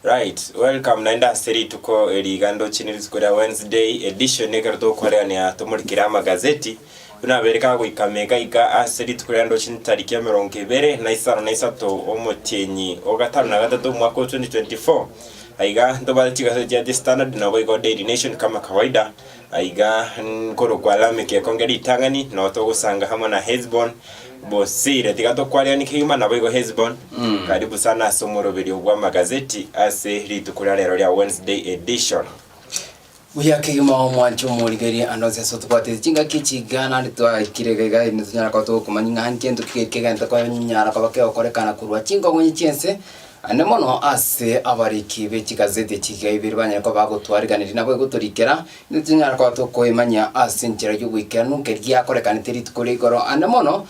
Right, welcome naende ase rituko eri igando chine rituko ria Wednesday edition ekero tokorerania tomorikire amagazeti buna abere kagoika mega iga ase rituko ria ndo chine tariki emerongo ebere na isano na isato omotienyi o gatano na gatato omwaka o 2024 aiga ntobaete chigazeti chia The Standard naboigo Daily Nation kama kawaida Aiga nkorokwa Lameki ekonge ritang'ani, nao togosanga amo na Hesiboni boseire. Tiga tokwariani kegima naboigo Hesiboni. Karibu sana ase omoroberio bw'amagazeti ase rituko ria rero ria Wednesday Edition. Buya kegima omwancha omorigereria ande onsi ase otobwatete chingaki echi iga naende twaikire iga iga nitonyara koba togokomanya ng'a nki gento ki geke egento konyara koba kegokorekana korwa chinkongonyi chi'ense Naende mono ase abariki be chigazeti chiria ibere banyare koba bagotwariganeri nabo egotorikera, intwe tonyare koba tokoemanyia ase enchera y'oboikeranu keria yakorekanete rituko ria igoro, aande mono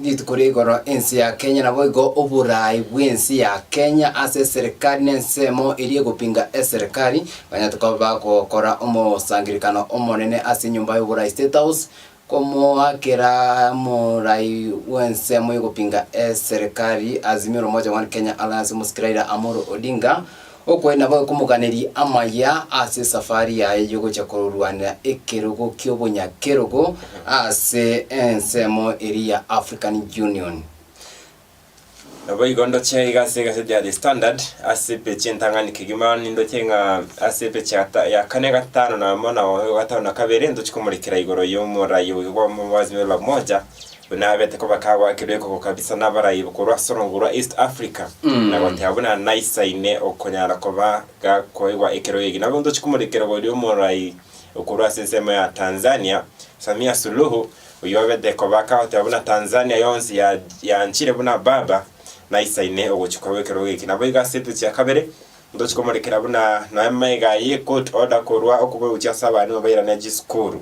rituko ria igoro ense ya Kenya, naboigo oboraai bw'ense ya Kenya ase eserekari na ensemo eria egopinga eserekari, banyare tokoba bagokora omosangererekano omonene ase enyomba y'oboraai, State House, Komoakera morai bw'ensemo y'ogopinga eserekari azimio l'umoja one Kenya Alliance omosike Raila Amolo Odinga okoe nabo ekomoganeria amaya ase esafari yaye yogocha korwanera ekerogo ki'obonyakerogo ase ensemo eria ya African Union. Naboigo ndoche iga ase egaseti ya The Standard ase page y'entang'ani kegima nindoche ng'a ase page ya gata- ya kane gatano na amo na oyo gatano na kabere ntochi komorekera igoro y'omorai oyo bwa omobazi bwa La Umoja buna abete koba kagwakirwe ekoko kabisa n'abarai bokorwa ase orongoro rwa East Africa na goteba buna naisaine okonyara koba gakoegwa ekero ege. Nabo ntochi komorekera igoro y'omorai okorwa ase ensemo ya Tanzania Samia Suluhu oyobete kobaka oteba buna Tanzania yonsi ya yanchire buna baba na isaine ogochikwa gwekerogo eki naboigo ase etuti ya kabere ntochi komorekera buna noe maiga ye court order korwa okoboeguchia ase abalimu bairane chisukuru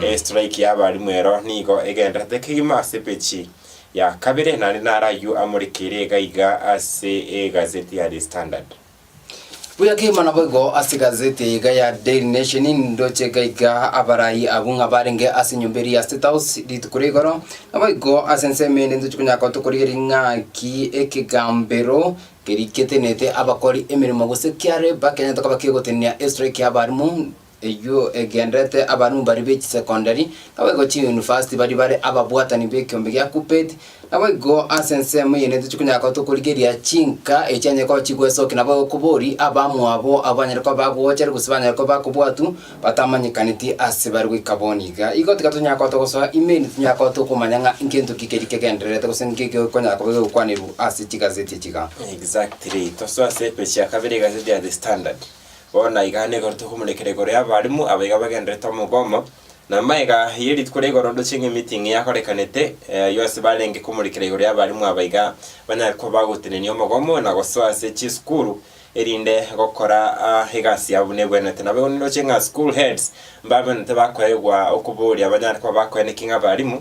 e strike ya abalimu ero nigo egenderete kegima ase pechi ya kabere naende nare aywo amorekeire iga iga ase egazeti ya the standard Buya kegima naboigo ase gazeti eye iga ya Daily Nation nindoche iga iga abarai abwo ng'a barenge ase enyomba eria ya State House rituko ria igoro. Naboigo ase ensemo ende ntoche konya gotoka korigia ring'aki ekegambero keria getenete abakori emeremo gose kiareba kenyete koba kegotenenia estrike y'abarimu Eyio egenderete abarumbari be chisekondari, naboigo chiyunivasiti baria bare ababwatani b'ekiombe gia Kuppet. Naboigo ase ensemo eyio netochia konyara koba tokorigereria chinka echi chianyare koba chigwesokia naboigo koboria abamwabo abwo banyare koba bagoochere gose banyare koba bakobwatwa batamanyekaneti ase bare goika bono iga. Igo tiga tonyara koba togosoa email tonyare koba tokomanya ng'a ngento ki keria kegendererete gose nki gekonyara koba gegokwanerwa ase chigazeti echi iga. Exactly. Tosoe ase epage ya kabere egazeti ya The Standard. Bono iga nigo tokomorekera igoro y'abalimu abaiga bagendererete omo bw'omo, na amaiga ye rituko ria igoro ndoche ng'a emeeting yakorekanete, ayio ase barenge komorekera igoro y'abalimu abaiga banyare koba bagotenenia omogomo na gosoa ase chisukuru, erinde gokora egasi yabo buna ebwenerete. Nabo igo nindoche ng'a school heads mbabenerete bakoegwa okoboria abanyare koba bakoeneki ng'a abalimu,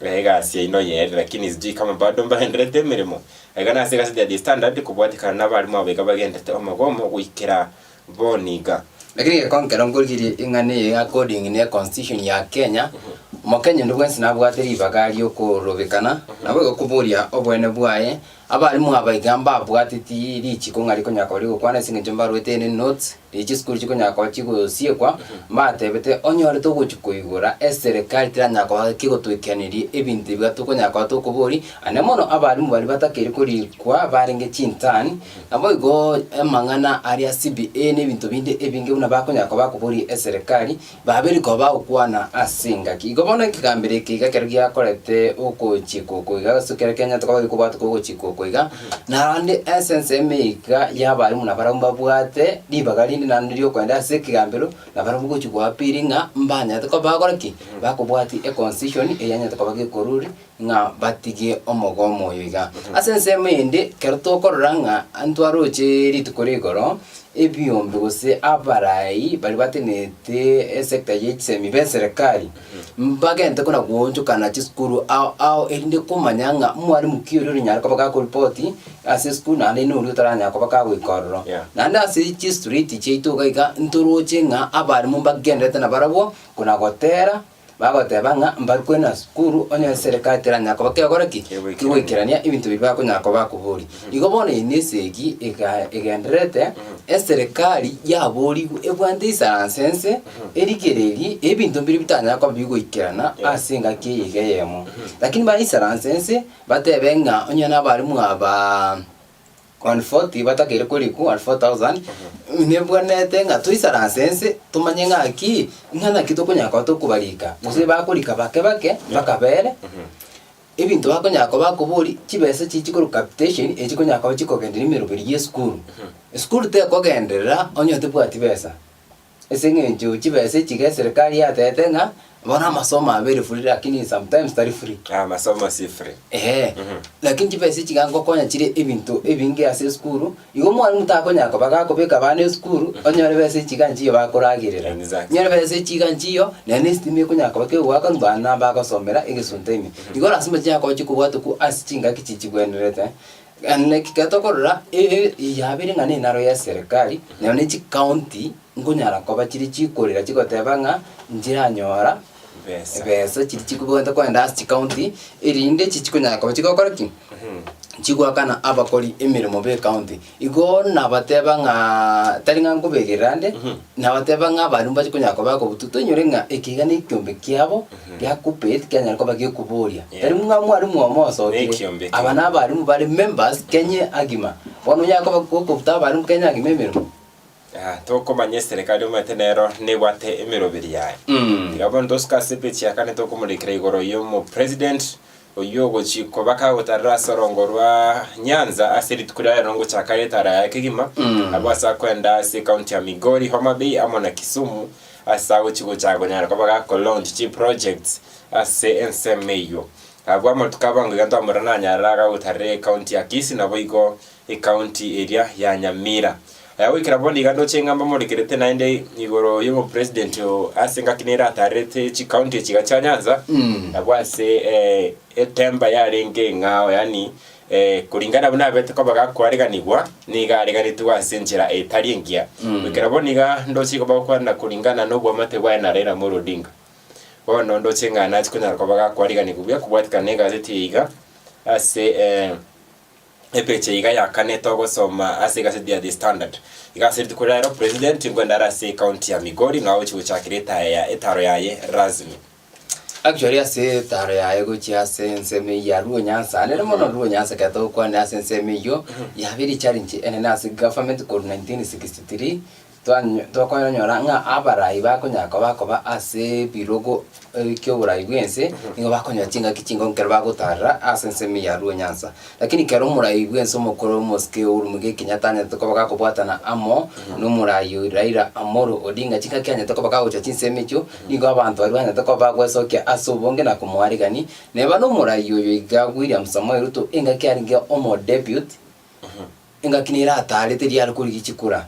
na egasi yaino y'eeri, lakini sijui kama bado mbarenderete emeremo. Ekana ase egazeti ya The Standard kobwatekana n'abarimu abo iga bagenderete omogo omo goikera bono iga. Lakini geko nkero nkorigereria ing'ana eye ya according ne constitution ya Kenya, omokenya onde bwensi nabwate ribaga riokorobekana, nabo igo koboria obwene bwaye. Abarimu aba iga mbabwateti richiko ng'a rikonyara koba rigokwana ase eng'encho mbarwete ere notes, Echi chisukuru chikonyara koba chigosiekwa, mbateebete onyorete ogochia koigora eserekari teranyara koba kegotwekeaneria ebinto ebiga tokonyara koba tokoboria, aye mono abalimu baria batakeire korikwa barenge chintani, naboigo amang'ana aria CBA na ebinto binde ebinge buna bakonyara koba bakoboria eserekari, Babere koba gokwana ase engaki. Igo bono ekegambero eke iga ekero giakorete okochikwa oko iga, ase ekero kianyarete koba gekobwatwa kwa ogochikwa oko iga, naende essence ime iga y'abarimo na barabwo mbabwate ribaga rinde naende riokoenda ase ekegambero na barabwo gochi goapiri ng'a mbanyarete koba bagokora ki? Bakobwati econcision eyanyarete koba gekoruri ng'a batigie omogomo oyo iga. Ase ensemo eyende, ekero tokorora ng'a intwe aroche rituko rigoro, ebiombe gose abarai baria batenenete esector ye chisemi b'eserekari, mbagente buna goonchokana chisukuru ao ao erinde komanya ng'a mwarimu ki oria oranyare koba gakoripoti ase esukuru naende oino oria otaranyara koba gagoika ororo. Yeah. Naende ase chistreet chiaito iga iga ntoroche ng'a abarimmu mbagendererete nabarabwo, kona gotera, Bagoteba ng'a mbarukwe nasukuru, onye eserikari teranyara koba kegora ki? Kegoikerania ebinto biria bakonyara koba bakoboria. Igo bono eye nesegi ega egendererete, eserikari yaborigwe ebwate isaranse ense, erigererie ebinto mbiria bitanyara koba bigoikerana ase engaki eye iga eyemo. Lakini bare isaranse ense, batebe ng'a onye nabare mwabaa. Alfoti batakeire korikwa, alfo thousand, nebwenerete ng'a toisare ase ense tomanye ng'aki ng'a naki tokonyara koba tokobarika, gose bakorika bake bake mpaka bere, ebinto bakonyara koba bakobori, chibesa echi chikorwa capitation, echi chikonyara koba chikogendereria emeroberi ya esukuru. Esukuru tekogenderera onye tobwati besa. Ase eng'encho chibesa echiga eserekari yatete ng'a bono amasomo abe ere free lakini sometimes tari free. Ah, masomo si free. Ehe, Mhm. lakini chibesa echiga ngokonya chire ebinto ebinge ase esukuru, igo omwalimu takonyara koba gakobeka abana esukuru, onyore besa echiga inche iyo bakoragerera. Exactly. Onyore besa echiga inche iyo, naende na esitima ekonyara koba kegoakanu bana nabagosomera egesunte ime. Igo lasima chinyara koba chikobwatokwa ase chingaki chichigwenerete, Naki getokorora eye yabeire ng'a nenaro ya serikali, nero ne chikaunti nkonyara koba chiri chikorera chigoteba ng'a nchiranyora ebesa chiri chikobwate kogenda ase chikaunti, erinde echi chikonyara koba chigokora ki? Chigoakana abakori emeremo b'ekaunti. Igo nabateba ng'aa tari ng'a nkoberera nde, nabateba ng'a baria mbachia konyara koba bakobutu, toinyore ng'a eke iga nekiombe kiabo, Geakupe tikianyare koba gekoboria. Yeah. Tari ng'a mwalimu oyomo osokire. Nekiombe ekio. Aba nabalimu bare members Kenya agima. Bono onyare koba gokobuta abalimu Kenya agima emeremo. Ah, tokomanya eserekari omanyete nero nebwate emeroberi yaye. Mm. Tiga bono tosuka asepage ya kane tokomorekera igoro yomo president Oyio ogochia kobaka agotarera ase orongo rwa nyanza ase rituko ria rero ngochaka getara yaye kegima, abwo ase akoenda ase county ya Migori, Homa Bay amo na Kisumu ase agochia gochaka konyara koba gako launch chi projects ase ensemo eyio. Abwo amatuko abango iga ntwamorora nanyarara agagotarera ecounty ya Kisii naboigo Ecounty eria ya Nyamira. Aya goikera bono iga ndoche ng'a mbamorekerete naende igoro y'obopresident oo ase engaki nere atarerete chicounty echi iga chia Nyanza nabo ase eh, etemba yarenge eng'ao yani eh, koringana buna abete koba gakoareganigwa niga areganetwe ase enchera etari engiya goikera bono iga ndoche igo bagokwana koringana n'oboamate bwaye na Raila Amolo Odinga bono ndoche ng'a nachi konyara koba gakoariganigwa buya kobwatikana na egazeti eye iga ase eh, Epicha iga ya kane togosoma ase egaseti ya The Standard. Iga ase rituko ria rero president nkwenda are ase ecounty ya Migori ng'a oche gochakera etaya ya etaro yaye rasmi. Actually ase etaro yaye gochia ase ensemo eye ya Luo Nyanza ande na mono Luo Nyanza ekero togokwanera ase ensemo eyio yabeire challenge enene ase government korwa 1963 Tokonyora ng'a abarai bakonyara koba akoba ase ebirogo eki'oborai bw'ense, nigo bakonyora chingaki ching'ao ekero bagotaarera ase ensemo ya Ruonyansa. Lakini ekero omorai bw'ense omokoro omosike oyoromwe gekinya tanyarete koba gakobwatana amo nomorai oyio Raila Amolo Odinga, chingaki anyarete koba gagocha chinsemo echio, nigo abanto baria banyarete koba bagwesokia ase obonge na komoaregani. Neba nomorai oyo iga William Samoei Ruto, engaki arenge omo-deputy. Engaki nere ataarete riare korigia chikura,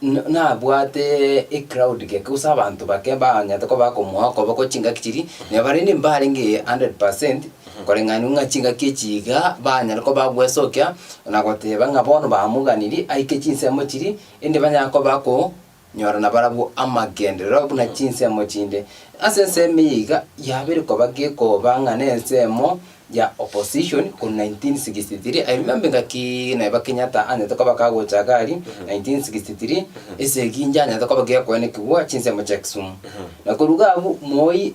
na nabwate ecrowd geke, gose abanto bake banyarete koba bakomoa okoboko chingaki chiria, na barende mbarenge 100% koreng'anigwa ng'a chingaki echi iga banyare koba bagwesokia, na goteba ng'a bono bamoganirie aike chinsemo chiria, erinde banyare koba bako. Nyora nabarabwo amagenderero buna chinsemo chinde. Ase ensemo eye iga yabire koba gekoba ng'a nensemo ya opposition korwa 1963, I remember engaki neba Kenyatta anyete koba kagocha gari 1963, ase egincha anyete koba gekoenekigwa chinsemo chia Kisumu. Na koruga abwo Moi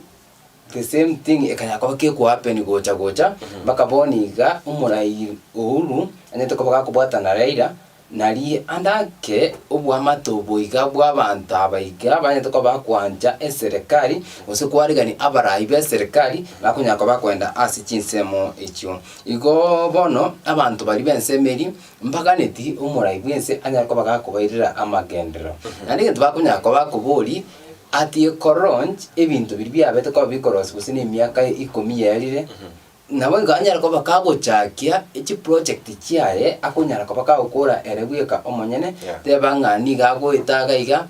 The same thing ekanya koba keku happen gocha gocha mpaka bono iga omorai Uhuru anyete koba gakobwata na Raila nari ande ake obwamate obo iga bwabanto aba iga banyete koba bakwancha eserekari gose kwaregani abarai beserekari bakonyara koba bakoenda ase chinsemo echio. Igoo bono abanto baria bensemo eria mbaganeti omorai bwense anyare koba gakobairera amagenderero naende egento bakonyara koba bakobori. Ati ekoronch ebinto biria biabete koba bikorosi gose nemiaka ikomi yerire, nabo igo anyare koba kagochakia echiproject chiaye, akonyara koba kagokora ere bweka omonyene, Yeah. teba ng'a nigo agoeta iga iga,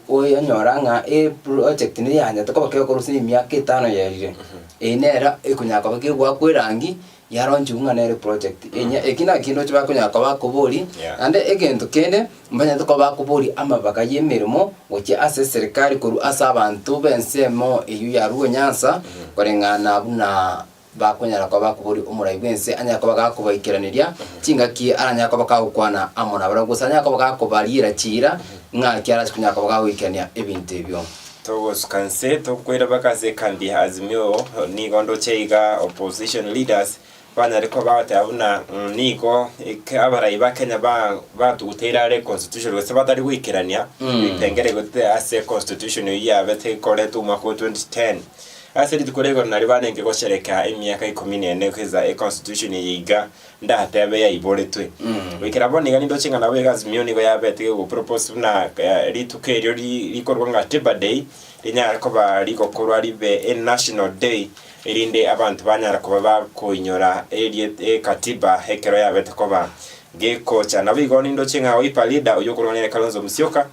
oyonyora ng'a eproject neyanyete koba kegokora gose nemiaka etano yerire, eye nera ekonyara koba kegoakwa erangi, yaronchigwe ng'a nere project enya. Eki nakindoche bakonyara koba bakobori, Yeah. naende egento kende mbanyete koba bakobori amabaga y'emeremo gochia ase eserikari korwa ase abanto b'ensemo eyio ya Luo Nyanza, koreng'ana buna bakonyara koba bakobori omorai bw'ense anyare koba gakobaikeraneria chingaki aranyare koba kagokwana amo nabarabwo, gose anyare koba gakobariera chiira ng'aki arase konyara koba gagoikerania ebinto ebio. Togosuka nse tokoira mpaka ase ekambi ya Azimio nigo ndoche iga opposition leaders banyare koba bagoteba buna mm, nigo eke- abarai ba Kenya ba- batuguteire are constitution gose batari goikerania ebipengere gotete ase constitution eyio yabete ikoretwe omwaka o 2010 ase rituko rigoro nario barenge gosherekea emiaka ikomi nene keza econstitution eye iga Ndatebe yaiboretwe. Goikera bono niga nindoche ng'a nabo egasi meyio nigo yabete go propose buna eh, rituko erio ri- rikorwa ng'a Tiber Day rinyare koba rigokorwa ribe e national day erinde abanto banyara koba bakoinyora eriet- ekatiba ekero yabete koba gekocha. Naboigo nindoche ng'a Wiper leader oyio okorwa ng'a nere Kalonzo Musyoka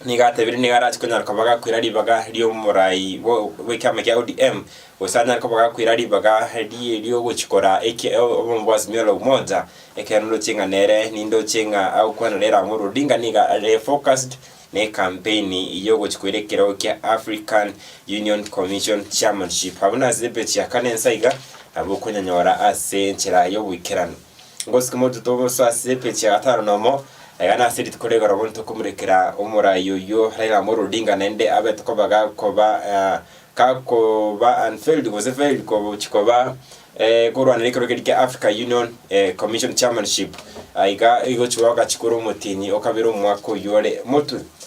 nigo atebirie nigo arache konyara koba gakwera ribaga ri'omorai bwo- bw'ekiama kia ODM, gose anyare koba gakwera ribaga rie- ri'ogochikora eki- o- obomo bwa Azimio la Umoja, ekiagera ndoche ng'a nere nindoche ng'a agokwana na Raila Amolo Odinga nigo are focused na ekampeni y'ogochikoira ekerogo kia African Union Commission Chairmanship. Abwo nase epage ya kane nsa iga, nabo okonyanyora ase enchera y'oboikeranu. Ngosike motuto boso ase epeji ya gatano nomo, iga nase rituko ria igoro bono tokomurekera omorai oyio Raila Amolo Odinga naende abe tokoba gakoba eh, gakoba unveiled gose veiled gochi koba eh, korwanera ekerogo keria kia Africa Union eh, Commission Chairmanship Ah, iga igochi goaka chikuru omotini okabere omwaka oyio ore motwe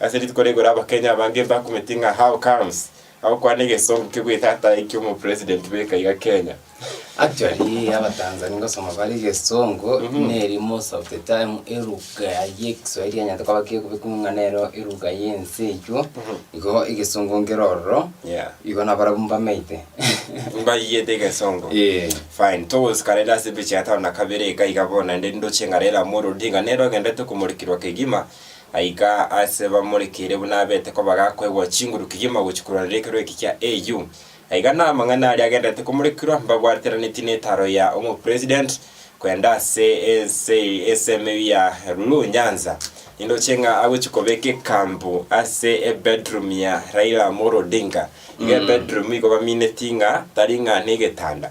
Ase rituko rigoro abakenya abange mbakumeti ng'a how comes agokwana egesongo ke bwetata ekio omo president beka iga Kenya. Actually aba Tanzania ngosoma bare egesongo neri most of the time eruga ye kiswahili enyete koba kekobekwa ng'a nero eruga ye ense eywo igo egesongo nkere ororo Yeah. igo nabarabu mbamete Mbaiyete egesongo. Eh. Fine. Togosika rende ase epicha ya tano na kabere eka iga bono naende ndoche ng'a Raila Amolo Odinga nere ogendete komorekirwa kegima Gaika aase bamorekeire buna abete koba gakoegwa chinguru kegima gochia korwa rirekero eke kia AU. Aiga namang'ana aria agenderete komorekirwa mbagwateraneti netaro ya omopresident kwenda ase ense esemeu ya Lulu Nyanza. Nindoche ng'a agochia kobeka ekampu ase ebedroom ya Raila Amolo Odinga. Iga ebedroom igo bamineti ng'a tari ng'a negetanda.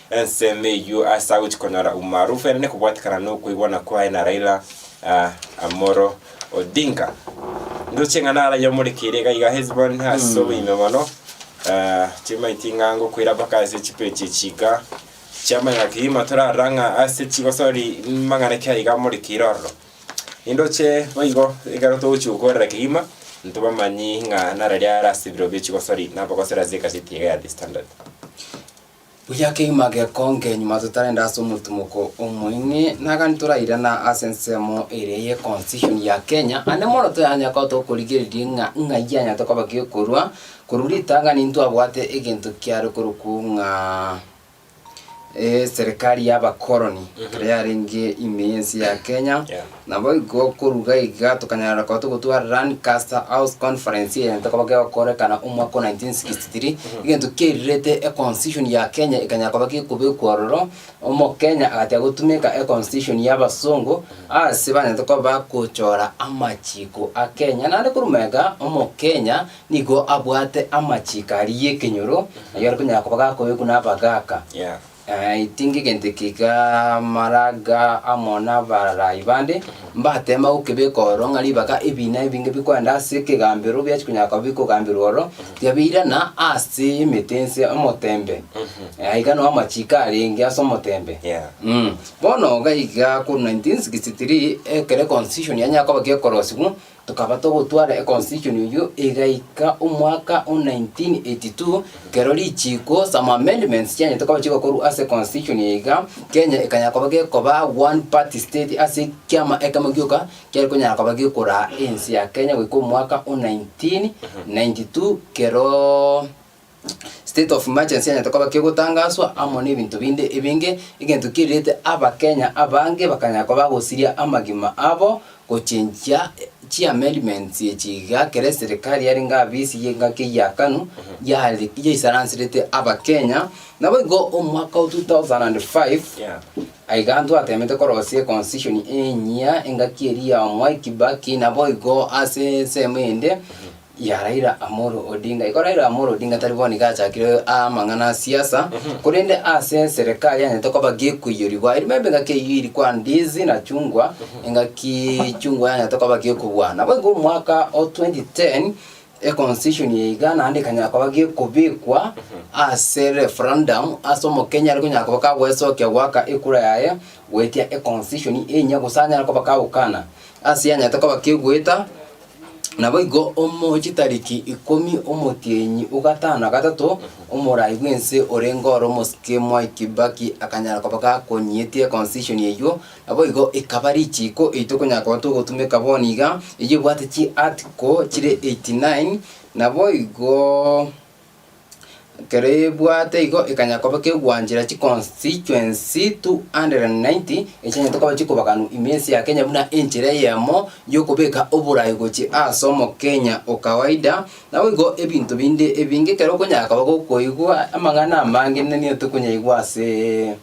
Ensemo eyio ase agochia konyora umaarufu yaane nekobwatekana nokoigwana kwaye na Raila Amolo Odinga. Ndoche ng'a naraiyo omorekeire iga iga Hesbon ase oboime mono chimaiti ing'ango koira mpaka ase chipechi echiika chiamanyora kegima torarora ng'a ase chigosori mang'ana ki aiga amorekeire ororo. Nindoche boigo ekero togochia gokorera kegima ntobe amanyi ng'a nararia are ase ebiro bie chigosori nabagosera ase egazeti iga ya The Standard. Buya kegima gekonge nyuma totarende ase omotimoko omoing'e, na gani torairana ase ensemo eria ye Constitution ya Kenya, ande mono toyanya ko tokorigereria ng'a ng'ai yanyarete koba gekorwa korwa ritang'ani ntwabwate egento kiare korokwo ng'a eserikari y'abakoroni ekero yarenge ime y'ense ya Kenya, Yeah. Naboigo koruga iga tokanyara gokoa togotwara Lancaster House Conference egento koba gegokorekana omwaka o 1963, egento kiairerete e Constitution ya Kenya ekanyara koba gekobekwa ororo, Omokenya agachia gotumeka e Constitution ya abasongo ase banyarete koba bagochora amachiko a Kenya. Naende korwa mega Omokenya nigo abwate amachiko aria y'ekenyoro, ayio are konyara koba gakobekwa na abagaka. Tinga egento eke k'amaraga amo n'abarai bande, mbateema gokebeka ororo ng'a ribaga ebiina ebinge bikorende ase ekegambero biachia konya koba bikogamberwa ororo, tiga beirana ase emete nse omoteembe, aiga noo amachiiko arenge ase omoteembe. Yeah. Mm. Bono iga iga korwa 1963 ekero Constitution yanyara koba gekorosigwa, Tokaba togotwara econstitution eyio egaika omwaka o 1982, ekero richiiko, some amendments, chianyete koba chigokorwa ase econstitution eye iga, Kenya ekanya koba gekoba one party state ase ekiama ekemo gioka kiare konyara koba gekoraa ense ya Kenya goika omwaka o 1992 keroo. State of emergency enyarete koba kegotangaswa amo na ebinto binde ebinge, egento kirirete abakenya abange bakanya koba bagosiria amagima abo gochenjia chi amendments echi iga ekero eserikari yarenge abisi ye engaki eyakanu yare yaisaransirete abakenya. Nabo igo omwaka o 2005 Yeah. aiga ntwatemete korosia econstitution enyia engaki eria ya Mwai Kibaki naboigo ase ensemo eyende. ya Raila Amolo Odinga. Igo Raila Amolo Odinga tari bono iga achakire amang'ana a siasa, korende ase eserekari anyete koba gekoiyoriwa. Erimo ebe engaki eyio iri kwa ndizi na chungwa, engaki chungwa yanyete koba gekobua. Nabo igo omwaka o 2010, econstitution eye iga naende ekanyara koba gekobekwa ase referendum, ase omokenya are konyara koba kagoesokia goaka ekura yaye goetia econstitution enye, gose anyare koba kagokana ase yanyete koba kegoeta Naboigo omochie tariki ikomi omotienyi o gatano na gatato, omorai bw'ense orenge oro omosike Mwai Kibaki akanyara koba gakonyiete constitution eyio, naboigo ekaba richiiko eri tokonyara koba togotumeka bono iga, eyio ebwate chi article chire 89 naboigo. Ekero ebwate igo ekanya koba kegwanchera chiconstituency 290 echianyete koba chikobaganwa ime ense ya Kenya buna enchera eyemo yokobeka oborai gochia ase omokenya o kawaida. Naboigo ebinto binde ebinge ekero okonyara koba gokoigwa amang'ana amange nene nigo tokonyaigwa asee.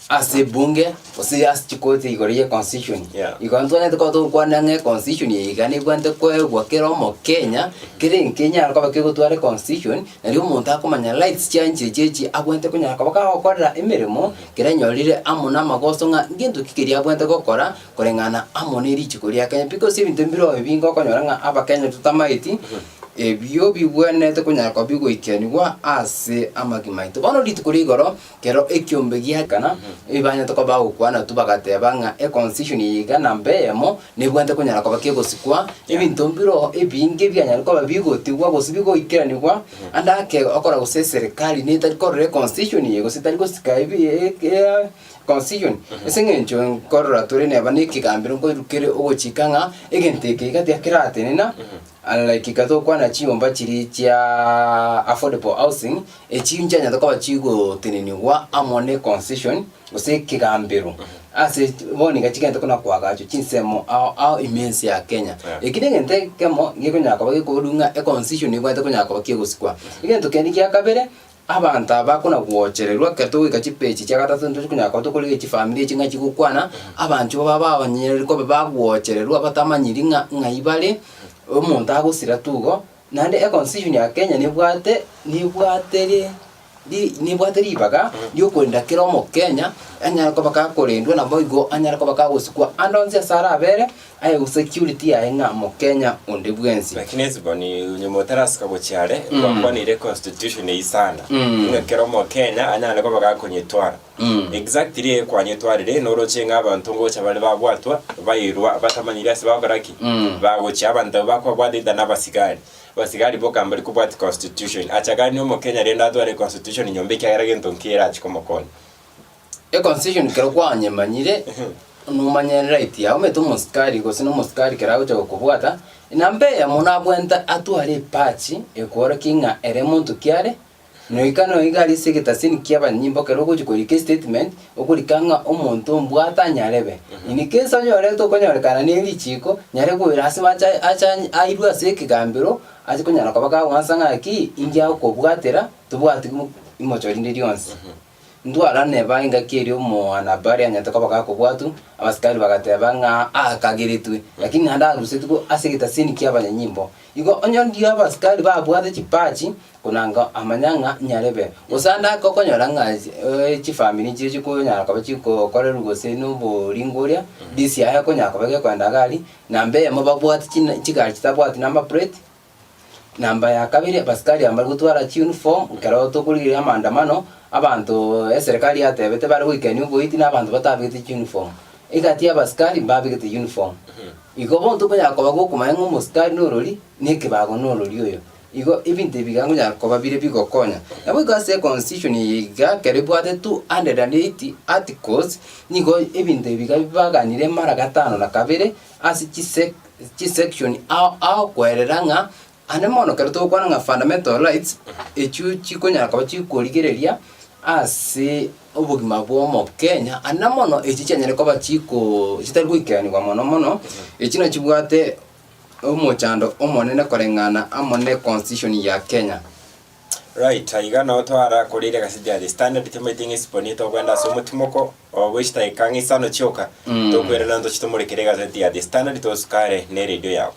Ase ebunge, gose ase chikoti igoro ye constitution, Yeah. igo ntonyete koba togokwana ng'a econstitution eye iga nebwanete koegwa kera omokenya, kera enkenya yare koba kegotware constitution, nario omonto akomanya rights chiaye nchiche chiechi abwanete konyara koba kagokorera emeremo kera enyorire amo namagoso ng'a ngento ki keria abwanete gokora koreng'ana amo ne richiko ria Kenya because ebinto mbire obi bingo okonyora ng'a abakenya totamaeti, ebio bigwenerete konyara koba bigoikeraniwa ase amagima aito. Bono rituko rigoro. Ekero ekiombe giaikana, ebibaanyato bagokwana tu bagateeba ng'a econcision eye iga na mbe eyemo nebwate konyara koba kegosikwa, ebinto mbiro ebinge bianyare koba bigotigwa gose bigoikeranigwa ande ake okora gose eserikari netari korora econcision eye gose tari gosika ebi ekeaa concision ase eng'encho nkorora tore neba na ekegambero nkoirukere ogochika ng'a egento eke iga tiga keratenena unlike iga tokwana chinyomba chiria chiaaa affordable housing Echi nchianyato koba chigotenenigwa amo ne concession, gose ekegambero, ase bono niga chigente buna koagachwa chinsemo ao ao ime ense ya Kenya. Yeah. Eki negento ekemo gekonyara koba gekoborwa ng'a econcession ebwate konyara koba kegosikwa. Egento kende gia kabere, abanto aba bakona gochererwa ekero togoika chipechi chia gatato ntochi konyara koba tokorigia chifamiri echi ng'a chigokwana, abanchwo baba babanyeire koba bagochererwa batamanyiri ng'a ng'ai bare, omonto agosira tu igo, Naende econstitution ya Kenya nebwate nebwate ri ri nebwate ribaga riokorenda kera omokenya anyare koba gakorendwa naboigo anyare koba gagosikwa ande onsi ase arabere aye security yaye ng'a mokenya onde bwensi. Lakini Esbon nyuma otarasika gochia are, Mm. gwakwanire econstitution eisana, Mm. ng'a kera omokenya anyare koba gakonyetwara. Exactly kwanyetwarire noroche ng'a abanto ngocha bare babwatwa bairwa batamanyire ase bagokora ki bagochia abanto abwo bakobwata either na abasigari abasigari boka mbari kobwati constitution achaganie omokenya rende atware constitution nyomba ekiagera gento nki erachi komokonya E constitution kero kwanyemanyire nomanye right yao omanyete omosikari gose na omosikari kero agocha gokobwata namba eyemo nabwenta atware epachi ekworokighe ng'a ere monto kiare Noika noika aria ase egetasini ki'abanyimbo ekero ogochia korika estatement, okorika ng'a omonto ombwate anyarebe. In case onyorete okonyorekana ne richiiko, nyare koira ase bache ache airwe ase ekegambero, ache konyara koba kagwansa ng'a ki, inki agokobwatera, tobwati imochori rinde rionsi. Ntwarane bae engaki eria omwana baria anyarete koba gakobwatwa, abasikari bagateba ng'a aakageretwe, lakini naende arusetigwe ase egetasini ki'abanyanyimbo. Igo onye ondiyo abasikari babwate chipachi, konanga amanya ng'a nyarebe, gose ande ake okonyora ng'a eh, chifamiri nchiria chikonyara koba chigokorerwa gose noboringo oria, bisi yaye ekonyara koba gekoenda iga aria, na mbemo babwate china chigari chitabwati number plate, Namba ya kabere Abasikari mbare gotwara chiuniform ekero tokorigereria amaandamano, abanto eserekari yatebete bare goikania oboiti na abanto batabegete chiuniform. Egati y'Abasikari mbabegete uniform. Igo bono tokonyara koba gokomanya ng'a Omosikari norori na ekebago norori oyo. Igo ebinto ebi iga nkonyara koba bire bigokonya. Naboigo ase constitution eye iga ekero ebwate two hundred and eighty articles, nigo ebinto ebi iga baganire mara gatano na kabere, Ase chisection agokoerera ng'a ande mono ekero togokwana ng'a fundamental rights echio chikonyara koba chikorigereria ase obogima bw'omokenya aende na mono echi chianyare koba chiko chitari goikeranigwa mono mono echi nachibwate omochando omonene koreng'ana amo ne constitution ya Kenya. Right, aiga nao twara koreire egaseti ya The Standard twamaete ng'a esiponi etogwenda ase omotimoko oo bwe chidaeka ng'a isano chioka, Mm. tokwerana ntoche tomorekere egaseti ya The Standard tosukare ne radio yabo.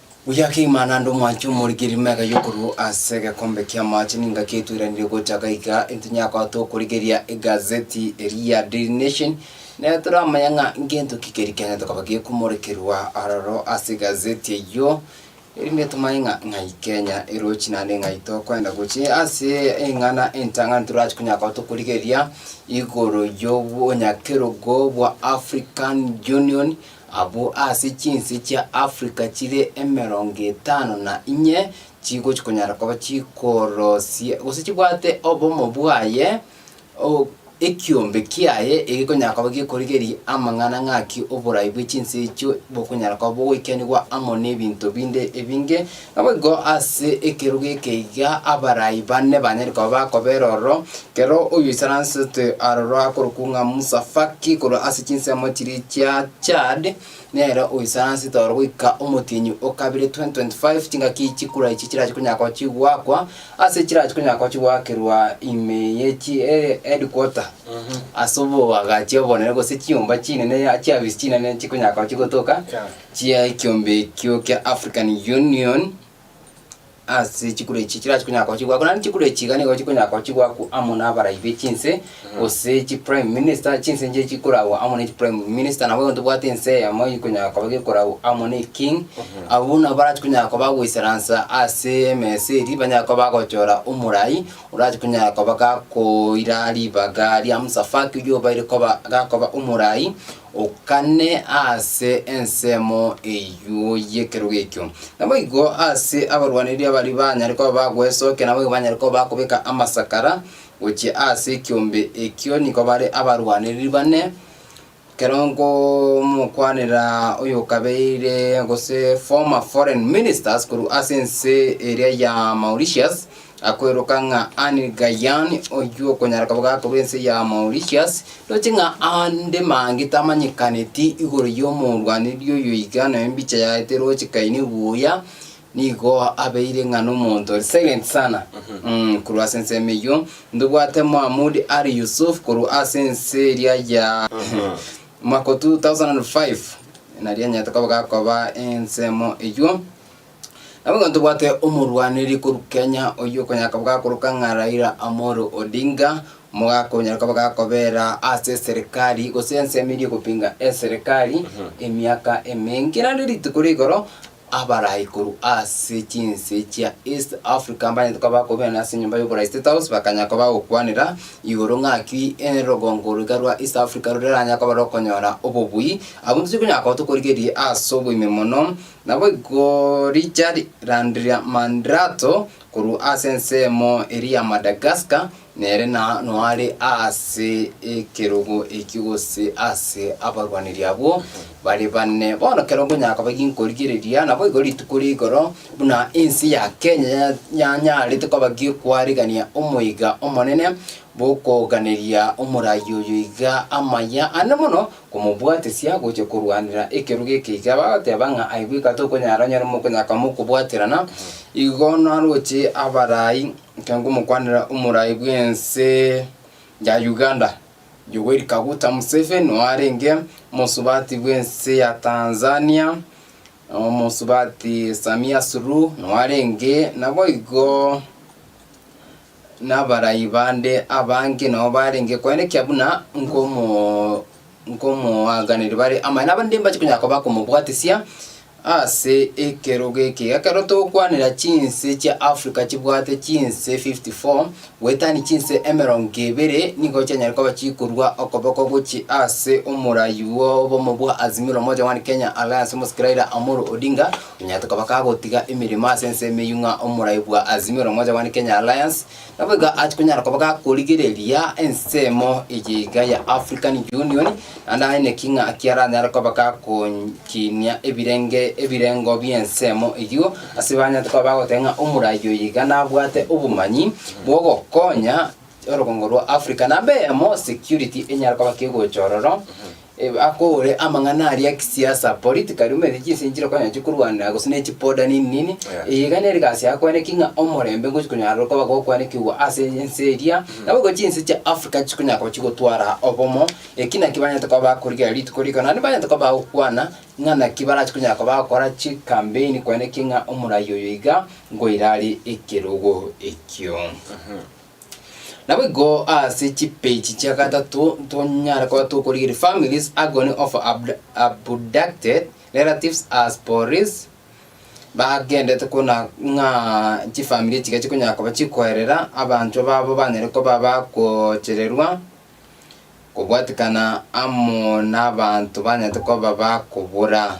Oyoka igima naende omwanche omorigereria emega y'okorua ase egekombe ki'amaache ningaki etweranire gocha gaiga intonyagote okorigereria egazeti eria ya Daily Nation, na toramanya ng'a ngento ki keria kiane tokaba gekomorekerwa aroro ase egazeti eyio, erinde tomanye ng'a ng'ai Kenya erochi naende ng'ai tokoenda gochia ase eng'ana entang'ani torache konyagote okorigereria igoro y'obonyakerogo bwa African Union. Abwo ase chinse chia Africa chire emerongo etano na inye chigochia konyara koba chikorosie gose chibwate obomo bwaye, o, ekiombe kiaye egekonyara koba gekorigeria amang'ana ng'aki oborai bwe chinse echio bokonyara koba bogoikeraniwa amo nebinto binde ebinge, Naboigo ase ekerogo ekeiga abarai bane banyare koba bakobera ororo, kera oyoisaransete aroro akorokwa ng'a Musafaki korwa ase chinsemo chiria chia Chad, nere oisaransete oro goika omotienyi o kabere 2025 chingaki chikura echi chirache konya gochi goakwa ase chirache konya gochi goakerwa ime ye chi eh, headquarter ase oboagachi obonene gose chinyomba chinene chiafisi chinene chikonya gochi gotoka Yeah. chia ekiombe ekio kia African Union ase chikura echi chirachia konya gochigwa ako naende chikura echi iga nigo chikonya gochigwa ako amo nabarai be chinse gose chi prime minister chinse inche chikoragwa amo ne chi prime minister nabo igo tobwate ense eyemo ekonya koba gekoragwa amo ne king abwo buna barachia konya koba goisaransa ase emesa eria banya koba bagochora omorai orachia konya koba gakoira ribaga ria Musa Faki oyio obaire koba gakoba omorai Okane ase ensemo eyio y'ekerogo ekio. Naboigo ase abarwaniria baria banyare koba bagwesokia naboigo banyare koba bakobeka amasakara gochia ase ekiombe ekio, nigo bare abarwanirir bane, ekero nkomokwanera oyokabeire gose former foreign ministers korwa ase ense eria ya Mauritius, Akweroka ng'a Anne Gaian, oyio okonyara koba gakorwa ense ya Mauritius, roche ng'a ande mange tamanyekaneti igoro y'omorwaneri oyo iga na embicha yaete roche kaini buya, nigo abeire ng'a nomonto ore silent sana. Mm, korwa ase ensemo eyio, ntobwate Mohamoud Ali Yusuf korwa ase ense eria ya mwaka o 2005, nari anyarete koba gakoba ensemo eyio. Nabo ng'a ntobwate omorwaneri korwa Kenya oyio okonyaka bwagakoroka ng'a Raila Amolo Odinga, mogakonyareka bagakobera ase eserekari gose ensemo eria egopinga eserekari emiaka emenge. Naende rituko rigoro abarai korwa ase chinse chia East Africa mbanyete koba bakobena ase enyomba y'oborai State House bakanya koba bagokwanera igoro ng'aki erogongo riga rwa East Africa roreranya koba rokonyora obobui. Abwo intwe tokonyara koba tokorigereria ase oboime mono. Naboigo riicha rirandiria Mandrato korwa ase ensemo eria ya Madagascar, nere na noare ase ekerogo ekio gose ase abarwaneri abwo bare bane. Bono kero nkonya koba ginkorigereria, naboigo rituko ria igoro buna ense ya Kenya ya- yanyarete koba gi'okwaregania omoiga omonene bw'okoganeria omorai oyo iga amaya ane mono, komobwatesia gochia korwanera ekerogo ekeiga, bagoteba ng'a aye bweka tokonyara onye nomokonyaka komokobwaterana, igo naroche abarai, ekero nkomokwanera omorai bw'ense ya Uganda, Yoweri Kaguta Museveni, noo arenge omosubati bw'ense ya Tanzania, omosubati Samia Suluhu, noo arenge naboigo. Nabarai bande abange nao barenge koenekia buna nkomoaganeri bare amaye, nabarende mbache konya koba komobwatisia ase ekerogo eke. Ekero togokwanera chinse chia Africa chibwate chinse 54, goetania chinse emerongo ebere nigo chianyare koba chikorwa okoboko gochia ase omorai bw'obomo bwa Azimio la Umoja One Kenya Alliance omosikira Raila Amolo Odinga, Nonya tokaba kagotiga emeremo ase ense emeyio ng'a omorai bwa Azimio la Umoja One Kenya Alliance nabo iga ache konyara koba gakorigereria ensemo eye iga ya African Union, naende aye naki ng'a ki aranyare koba gakonchinia ebirenge ebirengo bi'ensemo eyio ase banyare koba bagoteba ng'a omorai oyo iga nabwate obomanyi bw'ogokonya orogongo rwa Africa. Namba eyemo security enyare koba kegocha ororo Ebe akore amang'ana aria a kisiasa, political rumeti chinse nchire konya chikorwanera gose ne chipoda nini nini, eye iga nere egasi yao kwaneki ng'a omorembe ngochi konyara ore koba gokwanekigwa ase ense eria, nabo igo chinse chia Africa chikonyara koba chigotwara obomo, eki naki banyete koba bakorigereria rituko riko, naende banyete koba bagokwana ng'a naki barache konyara koba bagokora chikambeini kwaneki ng'a omoraia oyo iga ngoira are ekerogo ekio. Naboigo ase chipeji chia gatato ntonyare koba tokorigereria families agony of abducted relatives as police bagendete kona ng'a chifamiri echiga chikonyara koba chikoerera abanto babo banyare koba bakochererwa kobwatikana amo nabanto banyarete koba bakobora.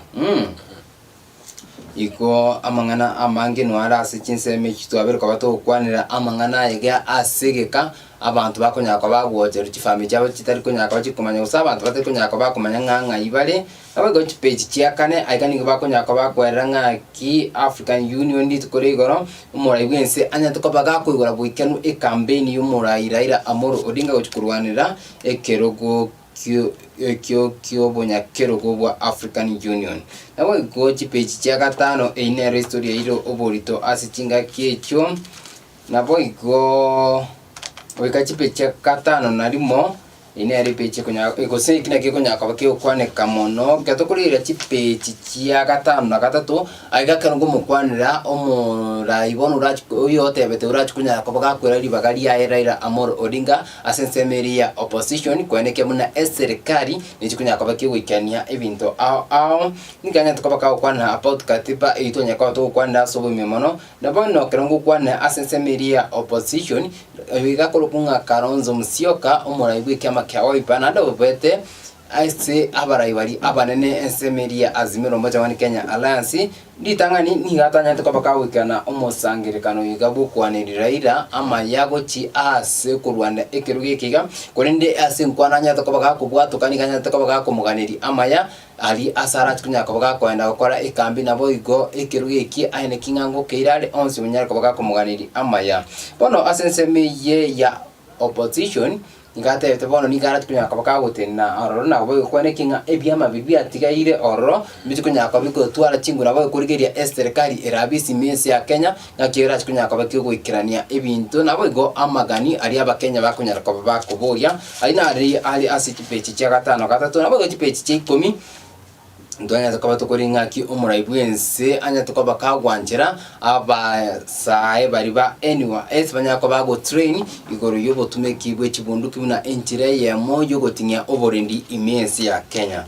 Ikwo amang'ana amange inwe are ase chinsemo echi twabire koba togokwanera amang'ana aye iga ase egeka abanto bakonyara koba bagoocherwa chifamiri chiabo chitari konyara koba chikomanya gose abanto batari konyara koba bakomanya ng'a ng'ai bare. Nabo igo chipage chia kane, aye iga nigo bakonyara koba bakwerora ng'aki African Union rituko ria igoro, omorai bwense anyarete koba gakoigora goikeranu ekampeni y'omorai Raila Amolo Odinga gochi korwanera ekerogo ekio ki'obonyakerogo bwa African Union. Naboigo chipeji chia gatano eyio nero historia yairo oborito ase chingaki echio, naboigo goika chipeji chia gatano na rimo, eyio nero epeji ekonya gose eki naki ekonyara koba kegokwaneka mono, ekero tokoreira chipeji chia gatano na gatato, aiga ekero ngomokwanera omoraai bono orachi oyotebete orachi konyara koba gakwera ribaga riaye Raila Amolo Odinga. Ase ensemo eria ya opposition kweneke buna eserekari nechi konya koba kegoikania ebinto ao ao nigo egento koba kagokwana about katiba eyio twanya koba togokwanera ase oboime mono na bono kero ngokwana ase ensemo eria ya opposition oyo igakorokwa ng'a Kalonzo Musyoka omorai bw'ekiama kia Wiper naende obobete Ase abarai baria abanene ensemo eria Azimio la Umoja One Kenya Alliance, ritang'ani nigo atanyarete kobeka goikana omosangererekano oyoiga bw'okwaneri Raila amaya gochia ase korwanda ekerogo eke iga, korende ase enkwano anyarete koba gakobwatoka nigo anyarete koba gakomoganeria amaya aria ase arache konya koba gakoenda gokora ekambi naboigo ekerogo eki aye ne king'ango keira are onsi onyare koba gakomoganeria amaya. Bono ase ensemo eye ya opposition, Nigo atebete, Bono nigo arati konyara koba kagotenena ororo na koba ogokwana ekiagera ng'a ebi'amabibi biatigaire ororo mbiche konyara koba bigotwara chinguru nabo ogokorigereria eserikari ere abwo isimi ense ya Kenya ng'aki erache konyara koba ekegoikerania ebinto naboigo amagani aria abakenya bakonyara koba bakoboria. Ayio nari are ase chipage chia gatano gatato naboigo chipage chia ikomi. Ntonyare koba tokora ing'aki omorai bw'ense anyare koba kagwanchera abasae baria ba NYS banyare koba agotrain igoro y'obotumeki bwe chibunduki buna enchera eyemo y'ogoting'ia oborendi ime ense ya Kenya.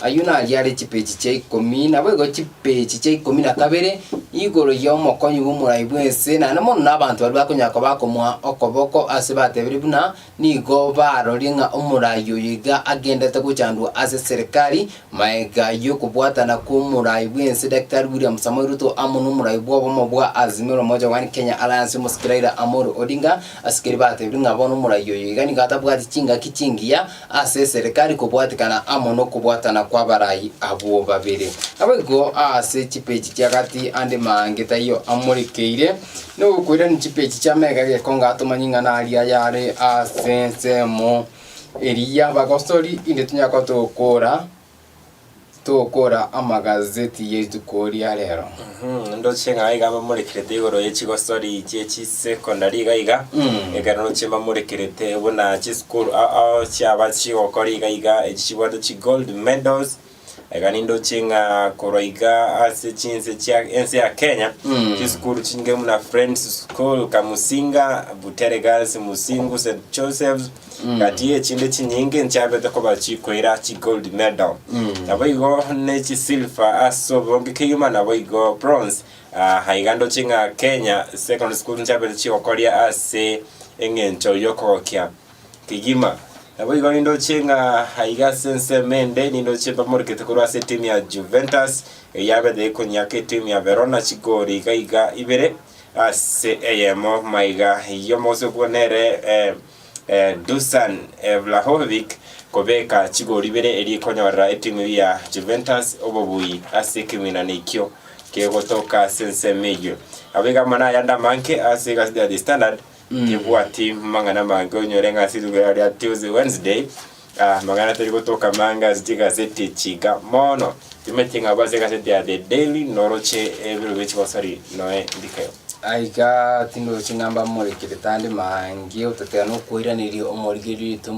Ayio naria are chipeji chia ikomi naboigo chipeji chia ikomi na kabere igoro y'omokonyi bw'omorai bw'ense naende mono nabanto baria bakonyara koba akomoa okoboko ase batebire buna Nigo barorie ng'a omorai oyo iga agenderete gochandwa ase serikari, magega y'okobwatana kw'omorai bw'ense Daktari William Samoei Ruto amo n'omorai bw'obomo bwa Azimio la Umoja One Kenya Alliance omosike Raila Amolo Odinga asikeri batebirie ng'a bono omorai oyo iga nigo atabwati chingaki chingiya ase serikari kobwatikana amo nokobwatana kw'abarai abwo babere. Naboigo ase chipeji chi'agati ande maange taiyo amorekeire. Nogokoirania chipechi chia mega egekonga ato manying'ana aria yare ase ensemo eria y'abagosori, inde tonyare koba togokora togokora amagazeti ya rituko ria rero. Mhm, ndoche ng'a iga mbamorekerete igoro ye chigosori chie chisecondary iga iga Mm. ekero noche mbamorekerete buna chisukuru ao ao chiaba chigokora iga iga echi chibwate chigold medals Iga nindoche ng'a korwa iga ase chinse chia ense ya Kenya Mm. chisukuru chinge muna Friends School Kamusinga, Butere Girls, Musingu, St Joseph's Mm. gati echinde chinyinge nchiabete koba chikoira chi gold medal Mm. nabo igo ne chi silver ase obonge kegima nabo igo bronze Ah, iga ndoche ng'a Kenya secondary school nchiabete chigokoria ase eng'encho yokogokia Kegima. Naboigo nindoche ng'a aiga ase ensemo ende nindoche mbamorokete korwa ase etimu ya Juventus, eyio yabete ekonyiaka etimu ya Verona chigori iga iga ibere ase eyemo maiga. Eyio omogusii okwo nere eh, eh, Dusan eh, Vlahovic kobeka chigori ibere eria ikonyorera etimu eyio ya Juventus obobui ase ekemegwinano ekio kegotoka ase ensemo eyio. Naboigo amo nayande amange ase egasi ya The Standard, Tebwati mang'ana amange onyore ng'a ase rituko ria Tuesday, Wednesday, ah, mang'ana tari gotoka amange ase chigaseti chiga mono. Timanyeti ng'a abwo ase egaseti ya The Daily noroche ebiro bie chigosori noe ndikeo. Aiga, tindoroche ng'a mbamorikire tande mange, otatera nokoiraneria omorigererio oito